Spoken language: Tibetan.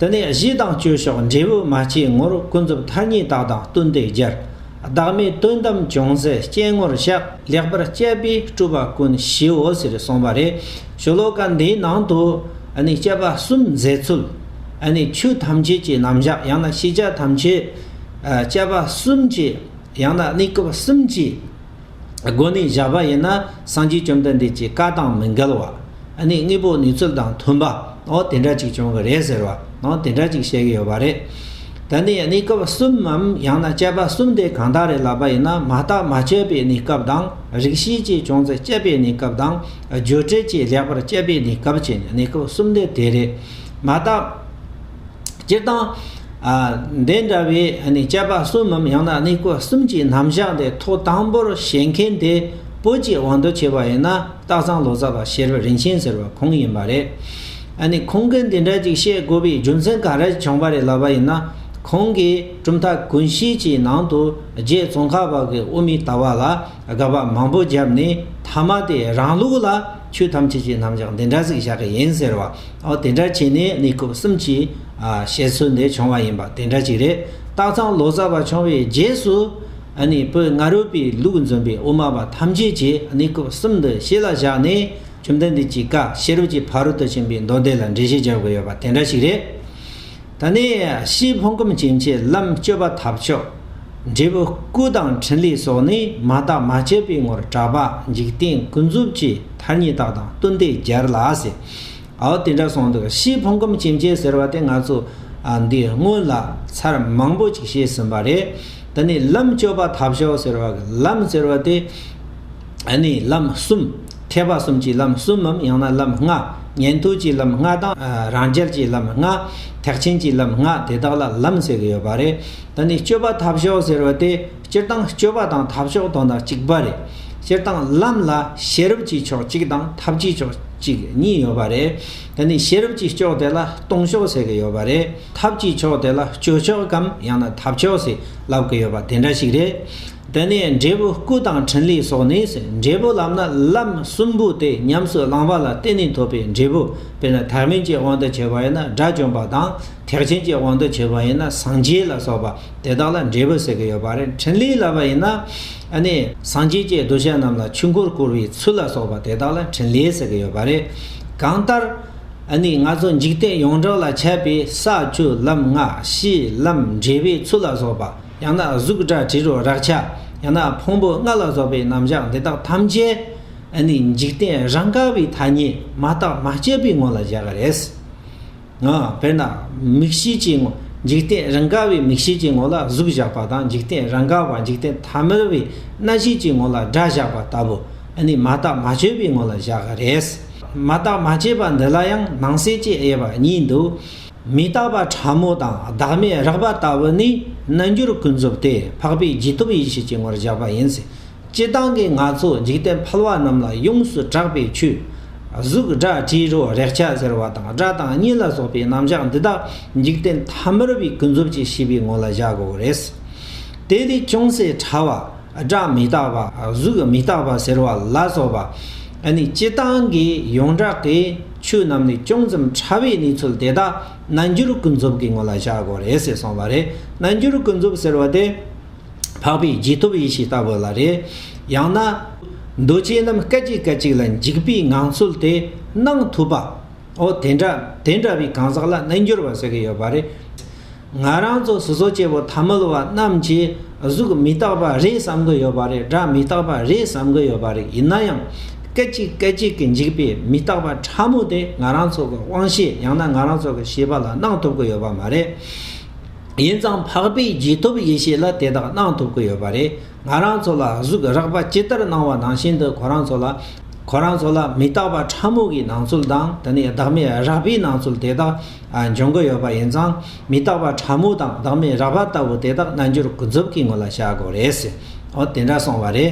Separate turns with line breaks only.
དེ་ནས་གཞི་དང་བཅོས་ཕྱོགས་འབྲས་བུ་མ་སྐྱེས་ངོར་ཀུན་རྫོབ་མཐའ་གཉིས་དག་དང་བསྟུན་ཏེ་སྦྱར། བདག་མེད་དོན་དམ་ཅུང་ཟད་སྐྱེས་ངོར་བཞག་ལེགས་པར་དཔྱད་པས་སྤྲུལ་པ་ཀུན་གཞིའོ་ཟེར་གསུངས་པ་རེད། ཤོ་ལོ་ཀ་འདིའི་ནང་དུ། དཔྱད་པ་གསུམ་མཛད་ཚུལ། ཆོས་ཐམས་ཅད་ཀྱི་རྣམ་གཞག་ཡང་ན་ཤེས་བྱ་ཐམས་ཅད། དཔྱད་པ་གསུམ་གྱིས་ཡང་ན་གནས་སྐབས་གསུམ་གྱིས། སྒོ་ནས་བཞག་པ་ཡིན་ན་སངས་རྒྱས་བཅོམ་ལྡན་འདས་ཀྱི་བཀའ་དང་མི་འགལ་བ། ནས་དངོས་པོ་ནུས་ཚོད་དང་མཐུན་པ། ནའོ་དེ་འདྲ་ཅིག་བྱུང་གི་རེད་ཟེར་བ། ནའོ་དེ་འདྲ་ཅིག་བཤད་གི་ཡོད་པ་རེད། ད་ནི་གནས་སྐབས་གསུམ་མམ་ཡང་ན་དཔྱད་པ་གསུམ་དེ་གང་དག་རེད་ལབ་པ་ཡིན་ན་མ་བརྟགས་མ་དཔྱད་པའི་གནས་སྐབས་དང་རིག་ཤེས་ཀྱི་བྱུང་ཚེ་དཔྱད་པའི་གནས་སྐབས་དང་བརྗོད་བྲལ་གྱི་ལེགས་པར་དཔྱད་པའི་གནས་སྐབས་ཀྱི་གནས་སྐབས་གསུམ་དེ་དེ་རེད། མ་བརྟགས། སྤྱིར་བཏང། འདི་འདྲ་བའི་དཔྱད་པ་གསུམ་མམ་ཡང་ན་གནས་སྐོར་གསུམ་གྱི་རྣམ་གཞག་འདི་ཐོག་དང་པོར་བྱེད་མཁན་དེ་བོད་ཀྱི་དབང་དུ་བྱས་པ་ཡིན་ན་སྟག་ཚང་ལོ་ཙཱ་བ་ཤེར་བ་རིན་ཆེན་ཟེར་བ་ཁོང་ཡིན་པ་རེད། ཁོང་གིས་འདི་འདྲ་ཅིག་བཤད་དགོས་པའི་རྒྱུ་མཚན་ག་རེ་བྱུང་བ་རེད་ལབ་པ་ཡིན་ན། ཁོང་གིས་གྲུབ་མཐའ་ཀུན་གཞིའི་ཀྱི་ནང་དུ་རྗེ་ཙོང་ཁ་བ་གི་དབུ་མའི་ལྟ་བ་ལ་དགག་པ་མང་པོ་བརྒྱབ་ནས་མཐའ་མ་དེ་རང་ལུགས་ལ་ཆོས་ཐམས་ཅད་ཀྱི་རྣམ་གཞག་འདི་འདྲ་ཟིག་བཞག་གི་ཡིན་ཟེར་བ། འོ་དེ་འདྲ་བྱས་ནས་གནས་སྐབས་གསུམ་གྱི་བཤད་ཚུལ་འདི་བྱུང་བ་ཡིན་པ་དེ་འདྲ་ཅིག་རེད། སྟག་ཚང་ལོ་ཙཱ་བ་བྱུང་བའི་རྗེས་སུ། བོད་རྔ་རོལ་པའི་ལུགས་འཛོམས་པའི་དབུ་མ་པ་ཐམས་ཅད་ཀྱིས་གནས་སྐབས་གསུམ་འདི་ཤེས་ལ་བཞག་ནས་བཅོམ་ལྡན་འདས་ཀྱི་བཀའ་ཤེས་རབ་ཀྱི་ཕ་རོལ་ཏུ་ཕྱིན་པའི་མདོ་སྡེ་ལ་འགྲེལ་བཤད་རྒྱག་དགོས་ཡོད་པ་དེ་འདྲ་ཞིག་རེད། ད་ནི་ཕྱིའི་ཕུང་ཁམས་ཅན་གྱི་ལམ་སྤྱོད་པ་ཐབས་མཆོག། འབྲས་བུ་སྐུ་དང་ཕྲིན་ལས་སོགས་ནི་མ་བརྟགས་མ་དཔྱད་པའི་ངོར་གྲགས་པ་འཇིག་རྟེན་ཀུན་རྫོབ་ཀྱི་མཐར་གཉིས་རྟགས་དང་བསྟུན་ཏེ་སྦྱར་ལགས། ཨའོ་དེ་འདྲ་སོང་འདུག་ཕྱིའི་ཕུང་ཁམས་ཇེ་མཇལ་ཟེར་བ་དེ་ང་ཚོ་འདི་སྔོན་ལ་ཚར་མང་པོ་ཅིག་བཤད་ཟིན་པ་རེད་ད་ནི་ལམ་བཅོ་པ་ཐབས་ཤོག་ཟེར་བ་གི་ལམ་ཟེར་བ་དེ་ནི་ལམ་གསུམ་ཐེག་པ་གསུམ་གྱི་ལམ་གསུམ་མམ་ཡང་ན་ལམ་ལྔ་ཉན་ཐོས་ཀྱི་ལམ་ལྔ་དང་རང་རྒྱལ་གྱི་ལམ་ལྔ་ཐེག་ཆེན་གྱི་ལམ་ལྔ་དེ་དག་ལ་ལམ་ཟེར་གྱི་ཡོད་པ་རེད་ད་ནི་བཅོ་པ་ཐབས་ཤོག་ཟེར་བ་དེ་སྤྱིར་བཏང་སྤྱོད་པ་དང་ཐབས་ཕྱོགས་དོ་ན་གཅིག་པ་རེད། སྤྱིར་བཏང་ལམ་ལ་ཤེས་རབ་ཀྱི་ཕྱོགས་གཅིག་དང་ཐབས་ཀྱི་ཕྱོགས་གཅིག་གཉིས་ཡོད་པ་རེད། དེ་ནི་ཤེས་རབ་ཀྱི་ཕྱོགས་དེ་ལ་སྟོང་ཕྱོགས་ཟེར་གྱི་ཡོད་པ་རེད། ཐབས་ཀྱི་ཕྱོགས་དེ་ལ་སྤྱོད་ཕྱོགས་གམ་ཡང་ན་ཐབས་ཕྱོགས་ཞེས་ལབ་གི་ཡོད་པ་དེ་འདྲ་ཞིག་རེད། དེ་ནས་འབྲས་བུ་སྐུ་དང་ཕྲིན་ལས་སོགས་ནི་འབྲས་བུ་ལམ་ན་ལམ་གསུམ་པོ་དེ་ཉམས་སུ་བླངས་པ་ལ་བརྟེན་ནས་ཐོབ་པའི་འབྲས་བུ་དཔེར་ན་ཐག་མིན་གྱི་དབང་དུ་བྱས་པ་ཡིན་ན་དགྲ་བཅོམ་པ་དང། ཐེག་ཆེན་གྱི་དབང་དུ་བྱས་པ་ཡིན་ན་སངས་རྒྱས་ལ་སོགས་པ་དེ་དག་ལ་འབྲས་བུ་ཟེར་གྱི་ཡོད་པ་རེད་འཕྲིན་ལས་ལ་བ་ཡིན་ན། སངས་རྒྱས་ཀྱི་གདུལ་བྱ་རྣམས་ལ་ཆོས་འཁོར་བསྐོར་བའི་ཚུལ་ལ་སོགས་པ་དེ་དག་ལ་འཕྲིན་ལས་ཟེར་གྱི་ཡོད་པ་རེད། གང་ལྟར། ང་ཚོ་འཇིག་རྟེན་ཡོངས་གྲགས་ལ་ཁྱབ་པའི་ས་བཅུ་ལམ་ལྔ་གཤིས་ལམ་འབྲས་བུའི་ཚུལ་ལ་སོགས་པ་ཡང་ན་གཟུགས་སྒྲ་དྲི་རོ་རེག་བྱ་ཡང་ན་ཕུང་པོ་ལྔ་ལ་སོགས་པའི་རྣམ་གཞག་འདི་དག་ཐམས་ཅད། འཇིག་རྟེན་རང་ག་བའི་ཐ་སྙད་མ་བརྟགས་མ་དཔྱད་པའི་ངོ་ལ་བཞག་གི་རེད། དཔེར་ན། མིག་ཤེས་ཀྱི་ངོ། འཇིག་རྟེན་རང་ག་བའི་མིག་ཤེས་ཀྱི་ངོ་ལ་གཟུགས་བཞག་པ་དང་འཇིག་རྟེན་རང་ག་བ་འཇིག་རྟེན་ཐ་མལ་བའི་རྣ་ཤེས་ཀྱི་ངོ་ལ་སྒྲ་བཞག་པ་ལྟ་བུ། འདི་ནི་མ་བརྟགས་མ་དཔྱོད་པའི་ངོ་ལ་བཞག་གི་རེད། མ་བརྟགས་མ་དཔྱད་པ་འདི་ལ་ཡང་ནང་གསལ་དཔྱད་དབྱེ་བ་གཉིས་འདུག། མི་རྟག་པ་ཕྲ་མོ་དང་བདག་མེད་རགས་པ་ལྟ་བུ་ནི་རྣལ་འབྱོར་ཀུན་རྫོབ་སྟེ་འཕགས་པའི་རྗེས་ཐོབ་ཡེ་ཤེས་ཀྱི་ངོར་བཞག་པ་ཡིན། སྤྱི་བཏང་གི་ནག་ཚོགས་འཇིག་རྟེན་ཕལ་བ་རྣམས་ལ་ཡོངས་སུ་གྲགས་པའི་ཆུ། གཟུགས་སྒྲ་དྲི་རོ་རེག་བྱ་ཟེར་བ་དང་སྒྲ་དང་གཉིད་ལ་སོགས་པའི་རྣམ་བཞག་འདི་དག་འཇིག་རྟེན་མཐའ་མི་རུ་བའི་ཀུན་རྫོབ་ཀྱི་ཤེས་པའི་ངོ་ལ་བཞག་དགོས་པ་རེད། དེ་ལས་ཅུང་ཟད་ཕྲ་བ། སྒྲ་མི་རྟག་པ་གཟུགས་མི་རྟག་པ་ཟེར་བ་ལ་སོགས་པ། ནི་སྤྱི་བཏང་གི་ཡོངས་གྲགས་ཀྱི་ཆོས་རྣམས་ལས་ཅུང་ཙམ་ཕྲ་བའི་གནས་ཚུལ་དེ་དག་རྣལ་འབྱོར་ཀུན་རྫོབ་ཀྱི་ངོ་ལ་བཞག་དགོས་རེད་ཟེར་སོང་བ་རེད་རྣལ་འབྱོར་ཀུན་རྫོབ་ཟེར་བ་དེ། འཕགས་པའི་རྗེས་ཐོབ་ཡེ་ཤེས་ལྟ་བུ་ལ་རེ། ཡང་ན། འདུ་བྱེད་རྣམས་སྐད་ཅིག་སྐད་ཅིག་ལ་འཇིག་པའི་ངང་ཚུལ་དེ་སྣང་ཐུབ་པའོ། དེ་འདྲ་དེ་འདྲ་བའི་གང་ཟག་ལ་རྣལ་འབྱོར་བ་ཟེར་གྱི་ཡོད་པ་རེད། ང་རང་ཚོ་སོ་སོ་སྐྱེ་བོ་ཐ་མལ་བ་རྣམས་ཀྱིས་གཟུགས་མི་རྟག་པ་རེད་བསམ་གྱི་ཡོད་པ་རེད་སྒྲ་མི་རྟག་པ་རེད་བསམ་གྱི་ཡོད་པ་རེད་ཡིན་ན་ཡང། སྐད་ཅིག་སྐད་ཅིག་གི་འཇིག་པའི་མི་རྟག་པ་ཕྲ་མོ་དེ་ང་རང་ཚོ་གི་དབང་ཤེས་ཡང་ན་ང་རང་ཚོ་གི་ཤེས་པ་ལ་སྣང་ཐུབ་གྱི་ཡོད་པ་མ་རེད། ཡིན་ཙང་འཕགས་པའི་རྗེས་ཐོབ་ཡེ་ཤེས་ལ་དེ་དག་གནང་ཐུབ་ཀྱི་ཡོད་པ་རེད། ང་རང་ཚོ་ལ་གཟུགས་རགས་པ་ཇི་ལྟར་གནང་བ་ནང་བཞིན་དུ་ཁོ་རང་ཚོ་ལ། ཁོ་རང་ཚོ་ལ་མི་རྟག་པ་ཕྲ་མོ་གི་སྣང་ཚུལ་དང་དེ་ནས་བདག་མེད་རགས་པའི་སྣང་ཚུལ་དེ་དག་འབྱུང་གི་ཡོད་པ་ཡིན་ཙང་མི་རྟག་པ་ཕྲ་མོ་དང་བདག་མེད་རགས་པ་ལྟ་བུ་དེ་དག་རྣལ་འབྱོར་ཀུན་རྫོབ་ཀྱི་ངོ་ལ་བཞག་དགོས་རེད། ཨོ་དེ་འདྲ་སོང་བ་རེད།